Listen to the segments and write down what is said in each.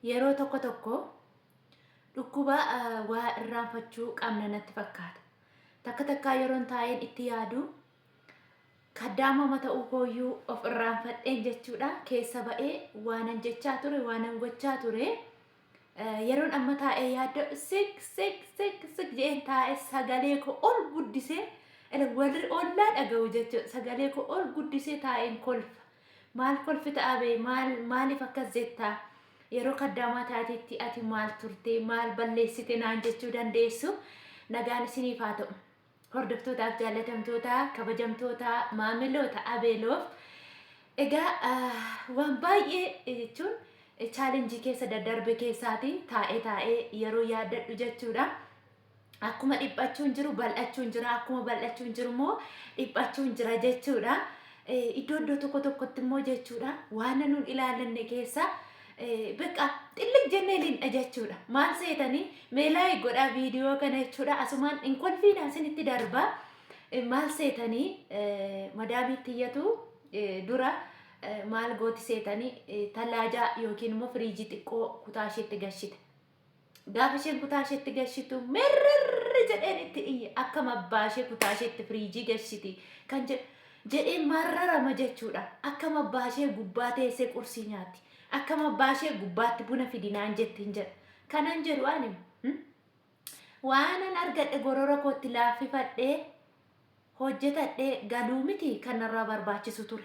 Yeroo tokko tokko dhukkuba waa irraanfachuu qabna natti fakkaata. Takka takkaa yeroon taa'een itti yaadu kaddaamama ta'uu kooyyuu of irraanfadheen jechuudha keessa ba'ee waanan jechaa ture waanan gochaa ture yeroon amma taa'ee yaaddo sik sik sik sik jeen taa'ee sagalee koo ol guddisee warri ollaa dhaga'u jechuudha sagalee koo ol guddisee taa'een kolfa. Maal kolfita abee maal maaliif akkas jetta yeroo kaddaamaa taatetti ati maal turte maal balleessite naan jechuu dandeessu nagaan isiniif haa ta'u hordoftootaaf jaallatamtoota kabajamtoota maamiloota abeeloof egaa ah, waan baay'ee jechuun chaalenjii keessa daddarbe keessaatiin taa'ee taa'ee yeroo yaaddadhu jechuudha. akkuma dhiphachuun jiru bal'achuun jira akkuma bal'achuun jiru immoo dhiphachuun jira jechuudha. Eh, Iddoo iddoo tokko tokkotti immoo jechuudha waan nuun ilaalanne keessa eh, beqa xillig jennee lindha jechuudha. Maal seetanii mee laayik godhaa viidiyoo kana jechuudha asumaan hin kolfiina isinitti darba. Eh, Maal seetanii eh, madaamii tiyyatu eh, dura eh, maal gooti seetanii eh, talaajaa yookiin immoo firiijii xiqqoo kutaa isheetti gashite. Gaafa isheen kutaa isheetti gashitu mirrirri jedheen itti iyye akkam abbaa ishee kutaa isheetti firiijii gashiti kan jedhu jedhee marrarama jechuudha. Akkam abbaa ishee gubbaa teessee qursii nyaatti. Akkam abbaa ishee gubbaatti buna fidi naan jetti hin jedha. Kanan jedhu ani hmm? waanan argadhe gorora kootti laaffifadhee hojjetadhee galuu miti kan narraa barbaachisu ture.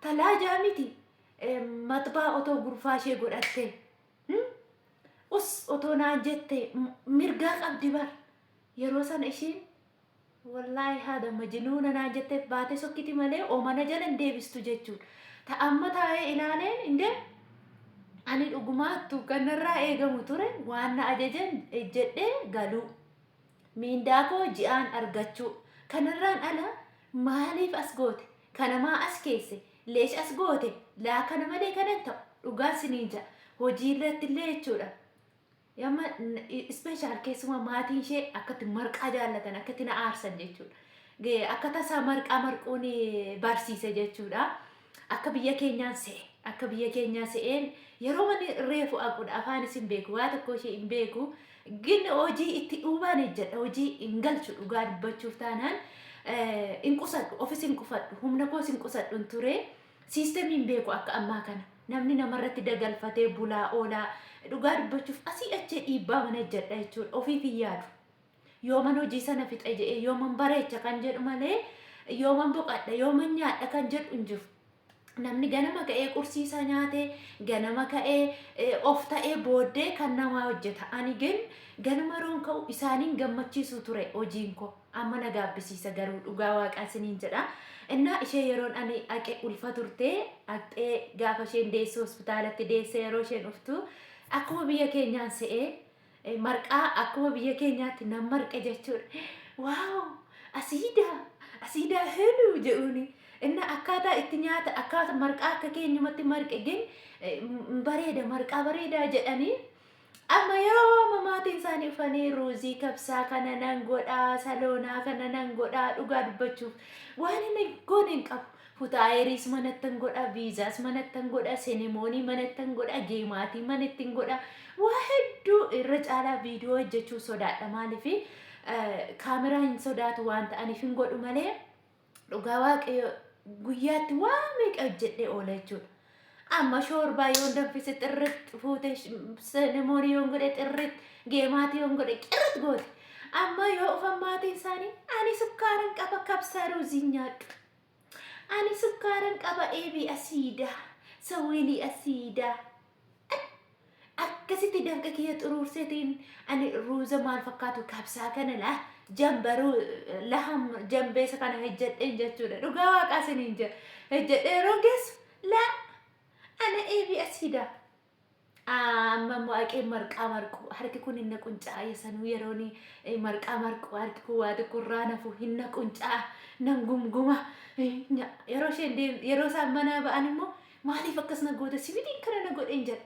Talaajaa miti maxbaa otoo gurfaa ishee godhattee hmm? us otoo naan jettee m- mirgaa qabdi bar yeroo sana ishiin wallaahi haadha majinuuna naan jetteef baatee sokkiti malee omana jala hin deebistu jechuudha ta amma taa'ee ilaaleen indee ani dhugumaattu kan narraa eegamu ture waan na ajajan ejjedhee galuu miindaa koo ji'aan argachuu kanarraan ala maaliif as goote Kana maa as keesse? Leesh as goote? Laa kana malee kana hin ta'u. Dhugaa isiniin ja'a. Hojii irratti illee jechuudha. Amma ispeeshaal keessumaa maatiin ishee akkatti marqaa jaallatan akkatti na aarsan jechuudha. Ge- Akka tasaa marqaa marquun eh, barsiise jechuudha. Akka biyya keenyaan se'e. Akka biyya keenyaa se'een yeroo mani reefu aquudha. Afaan isin beeku. Waa tokko ishee hin beeku. Gin hojii itti dhuumaan ejjadha hojii hin galchu dhugaa dubbachuuf taanaan hin qusadhu ofis hin qufadhu humna koos hin qusadhu hin ture siistemii hin beeku akka ammaa kana namni namarratti dagalfatee bulaa oolaa dhugaa dubbachuuf asii achee dhiibbaa mana ejjadha jechuudha ofiif hin yaadu yooman hojii sana fixa jedhee yooman bareecha kan jedhu malee yooman boqadha yooman nyaadha kan jedhu hin jiru Namni ganama ka'ee qursii isaa nyaatee ganama ka'ee eh, of ta'ee booddee kan namaa hojjeta. Ani gin ganama yeroon ka'u isaaniin gammachiisuu ture hojiin koo. Amma na gaabbisiisa garuu dhugaa waaqaa isiniin jedha. Innaa ishee yeroon ani aqe ulfa turtee aqxee gaafa isheen deessu hospitaalatti deessee yeroo isheen dhuftu akkuma biyya keenyaan se'ee Eh, Marqaa akkuma biyya keenyaatti nan marqe jechuudha. Waaw! Asiidaa! Asiidaa heeluu jedhuuni. Inna akkaataa itti nyaata akkaata marqaa akka keenyumatti marqe gin eh, m- bareeda marqaa bareedaa jedhanii amma yeroo amma maatiin isaanii dhufanii ruuzii kabsaa kana nan godhaa saloonaa kana nan godhaa dhugaa dubbachuuf waan inni goone hin qabu. Kutaa Ayeris manattan godha, Viizaas manattan godha, Senemoonii manattan godha, Geemaatii manattin godha. Waa hedduu irra caalaa viidiyoo hojjechuuf sodaadha maaliif kaameraa hin sodaatu waan ta'aniif hin godhu malee dhugaa waaqayyo guyyaatti waa meeqa hojjedhee oola jechuudha. Amma shoorbaa yoon danfise xirritti fuute senemoonii yoon godhe xirritti geemaatii yoon godhe qirritti goote. Amma yoo ufan maatiin isaanii ani sukkaaran qaba kabsaa ruuziin nyaadhu. Ani sukkaaran qaba eebi asiida sawweelii asiida Ay! Akkasitti dafqa kiyya xuruurseetiin ani ruuza maal fakkaatu kabsaa kana la jambaruu laham jambeesa kana hojjedheen jechuudha dhugaa waaqaa siniin jedha hojjedhee yeroo geessu la ana eebi asiida Amma immoo haqeen marqaa marqu harki kun hin naqunca'a yesanuu yeroon marqaa marqu harki kun waa tokko irraa nafu hin naqunca'a nan gumguma yeroo isheen deem yeroo isaan manaa ba'an immoo maaliif akkas na goota sibidiin kana na godheen jedha.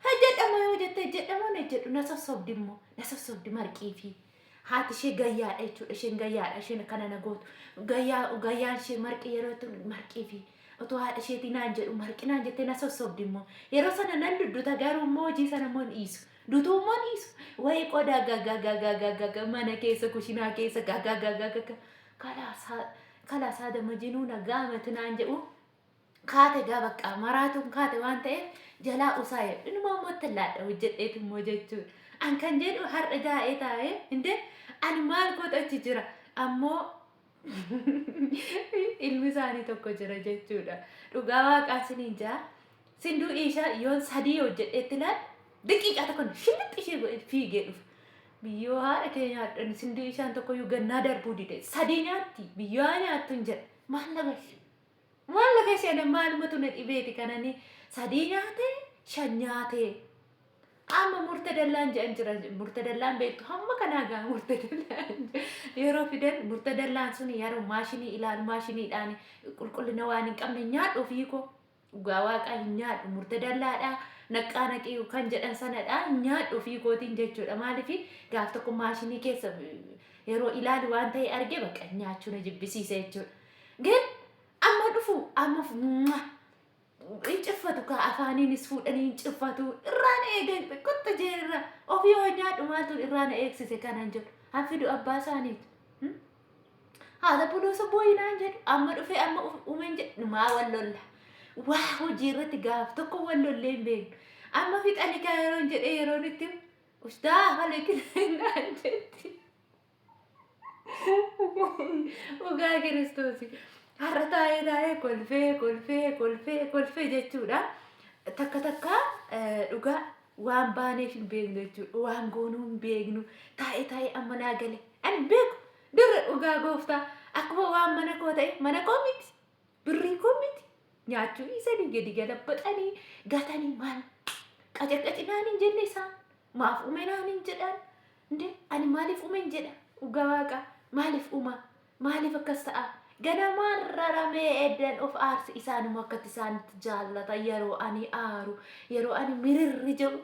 Hojjedha immoo yoo jette hojjedha immoo hin hojjedhu na sossobdi immoo na sossobdi marqii fi haati ishee gayyaadha jechuudha. Isheen gayyaadha isheen akkana na gootu. Gayyaa gayyaan ishee marqii yeroo jettu marqii fi otoo haadha isheetii naan jedhu marqii naan jettee na sossobdi immoo. Yeroo sana nan dudduta garuu immoo hojii sana immoo hin dhiisu. Dutuu immoo hin dhiisu. Wayii qodaa gagagagagagaga mana keessa kushinaa keessa gagagagagaga. Kalaasaa kalaasaa dama jinuu na gaamati naan jedhu kaate egaa baqqaa maraatuun kaate waan ta'eef jalaa usaa jedhu inumaa immoo ittiin laadha hojjedheetu immoo jechuun an kan jedhu har'a gaa'ee taa'ee hinde ani maal kootu achi jira ammoo ilmi isaanii tokko jira jechuudha dhugaa waaqaa siniin jaa sinduu ishaa yoon sadii hojjedheetti laal daqiiqaa tokkoon shillixxi ishee godhe fiigee dhufa. Biyyoo haadha kee nyaadhan sinduu ishaan tokkoyyuu gannaa darbuu dide sadii nyaatti biyyoo haa nyaattu hin jedhe maal na bashe. Maal na keessi ana maalumatu na dhibeeti kan ani sadii nyaate shan nyaate amma murtadallaan jedhan jira murtadallaan beektu hamma kanaa gaa murtadallaan yeroo fidan murtadallaan sun yeroo maashinii ilaalu maashiniidhaan qulqullina waan hin qabne nyaadhu ofii koo dhugaa waaqaa hin nyaadhu murtadallaadha naqqaa naqii kan jedhan sanadha hin nyaadhu ofii kootiin jechuudha maaliif gaaf tokko maashinii keessa yeroo ilaalu waan ta'e arge bakka nyaachuu na jibbisiise jechuudha. Gad amma dhufu amma fu- mwah. hin ciffatu kaa afaaniinis fuudhanii hin ciffatu irraan eegan xiqqotta jee irra ofii hoo nyaadhu maaltu irraa na eegsise kanan jedhu haffidu abbaa isaaniitu Hmm? haadha buloosa booyinaan jedhu amma dhufee amma uf- uumeen jedhu maa wal lolla waa hojii irratti gaaf tokko wal lollee hin beeknu amma fixanikaa yeroon jedhee yeroon itti ustaa halekinaan jetti Dhugaa kiristoos har'a taa'ee taa'ee kolfee kolfee kolfee kolfee jechuudha. Takka takka eh, dhugaa waan baaneef hin beeknu jechuudha. Waan goonuu hin beeknu taa'ee taa'ee amma naa gale. Ani hin beeku dura dhugaa gooftaa akkuma waan mana koo ta'e mana koo miti. Birrii kun miti nyaachuu dhiisanii gadi galabaxanii gatanii maal qacaqacinaan hin jenne isaan maaf umenaan hin jedhaan nde ani maaliif umen jedha dhugaa waaqa maaliif umaa maaliif akkas ta'a ganamaan raramee eddan of aarse isaanuma akkatti isaanitti jaallata yeroo ani aaru yeroo ani mirirri jedhu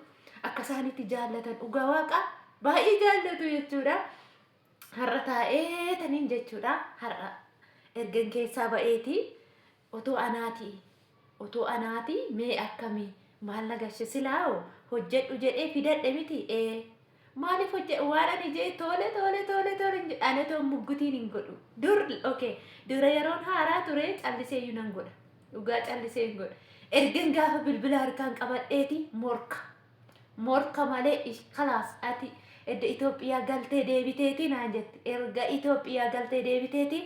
akka isaanitti jaallatan dhugaa waaqa baay'ee jaallatu jechuudha. Har'a taa'ee taniin jechuudha. Har'a ergan keessaa ba'eeti otoo anaati otoo anaati mee akkami maal na gashe silaawo hojjedhu jedhee fidadhe miti ee maaliif hojje waan ani jee toole toole toole toole hin jedhe ani otoo muggutiin hin godhu dur okay dura yeroon haaraa ture callisee iyyuu nan godha dhugaa callisee hin godha ergan gaafa bilbila harkaan qabadheeti morka morka malee ish kalaas ati edda Ethiopia galtee deebiteeti naan jette erga Ethiopia galtee deebiteeti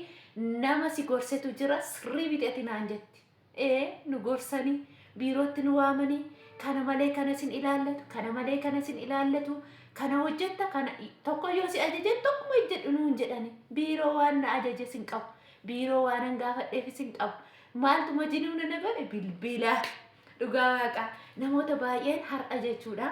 nama si gorsetu jira sirrii miti ati naan jette ee nu gorsanii biirootti nu waamanii kana malee kana sin ilaallatu kana malee kana sin ilaallatu kana hojjetta kana tokko yoo si ajajan tokkuma hojjedhu nuun jedhani biiroo waan na ajajes hin qabu biiroo waanan gaafadheefis hin qabu maaltu majinuu na na godhe bilbila Dhugaa waaqaa namoota baay'een har'a jechuudha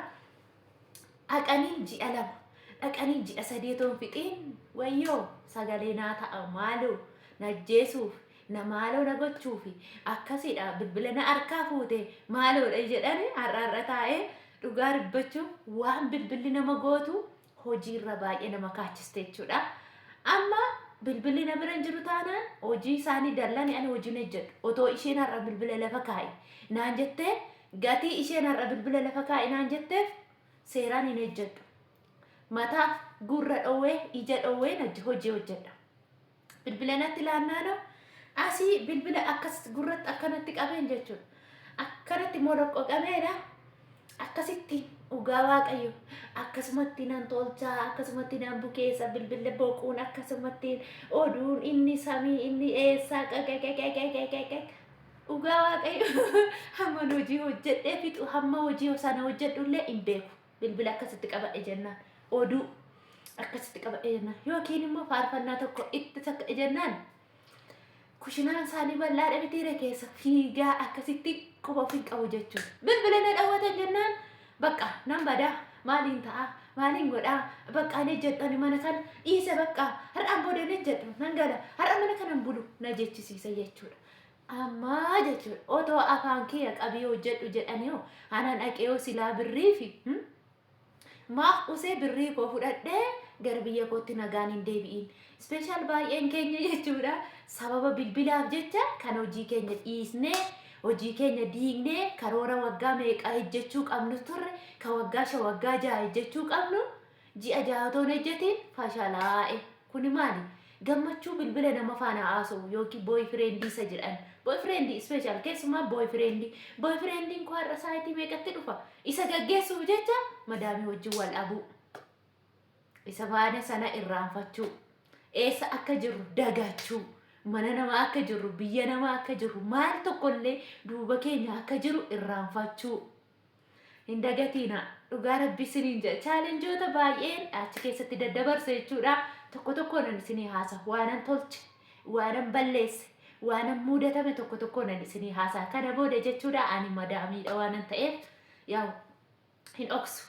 dhaqanii ji'a lama dhaqanii ji'a sadii otoo hin fixiin wayyoo sagalee naa ta'a maaloo na ajjeesuuf na maaloo na gochuufi akkasiidha bilbila na harkaa fuute maaloodha jedhani har'a har'a taa'ee dhugaa dubbachuuf waan bilbilli nama gootu hojiirra baay'ee nama kaachiste jechuudha. Amma bilbilli na bira hin jiru taanaan hojii isaanii dallani ani hojii hin hojjedhu. Otoo isheen har'a bilbila lafa kaa'i naan jettee gatii isheen har'a bilbila lafa kaa'i naan jetteef seeraan hin hojjedhu. Mataaf gurra dhoowwee ija dhoowween hojii hojjedha. bilbila natti laannaanoo asii bilbila akkas gurratti akkanatti qabeen jechuudha. Akkanatti moloqqo qabeedha. Akkasitti dhugaa waaqayyo akkasumatti nan tolchaa akkasumatti nan bukeessa bilbila boquun akkasumatti oduun inni samii inni eessaa qaqaqaqaqaqaqaq dhugaa waaqayyo hamman hojii hojjedhee fixu hamma hojii sana hojjedhullee hin beeku. bilbila akkasitti qabadhe jennaan oduu akkasitti qabadhe jennaan yookiin immoo faarfannaa tokko itti sakka'e jennaan kushinaan isaanii bal'aadha mitiire keessa fiigaa akkasitti quba ofiin qabu jechuudha. Bilbila na dhawwatan jennaan bakka nan badaa maaliin ta'a maaliin godhaa bakka ni jedhani mana kana dhiise bakka har'aan booda ni jedhu nan gala har'a mana kanan bulu na jechisiisa jechuudha. Amma jechuudha otoo afaan kiyya qabii hojjedhu jedhaniiho ana dhaqeeho silaa birriifi maaf usee birrii koo fudhadhee gara biyya kootti nagaan hin deebi'in. Ispeeshaal baay'een keenya jechuudha sababa bilbilaaf jecha kan hojii keenya dhiisnee hojii keenya diignee karoora waggaa meeqaa hojjechuu qabnu turre kan waggaa shan waggaa ja'a hojjechuu qabnu Ji'a jaha otoo hin hojjetiin fashalaa'e. Kuni maali? Gammachuu bilbila nama faana haasowu ykn boyfriend isa jedhan. Boyfriend special keessumaa boyfriend. Boyfriend koo har'a saayitii meeqatti dhufa? Isa gaggeessuuf jecha madaamii wajjin wal dhabuu. Isa faana sana irraanfachuu. Eessa akka jirru dagachuu. Mana namaa akka jirru, biyya namaa akka jirru, maal tokkollee duuba keenya akka jiru irraanfachuu. Hin dagatiina dhugaa rabbii siniin jedha chaalenjoota baay'een achi keessatti daddabarse jechuudha tokko tokkoonan isinii haasa waanan tolche waanan balleesse waanan muudatame tokko tokkoonan isinii haasa kana booda jechuudha ani madaamiidha waanan ta'eef yaa'u hin dhoksu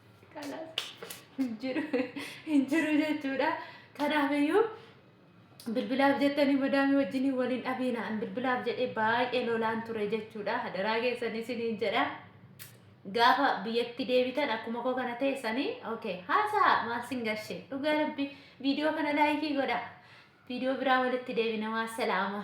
hin jiru hin jiru jechuudha. Kanaafiyyuu bilbilaaf jettanii madaamii wajjin waliin dhabiinaan bilbilaaf jedhee baay'ee lolaan ture jechuudha. Hadaraa keessan isiniin jedha. Gaafa biyyatti deebitan akkuma koo kana teessanii okay haasaa maal sin garshe dhugaa rabbi viidiyoo kana laayikii godha. Viidiyoo biraa walitti deebina waa salaama.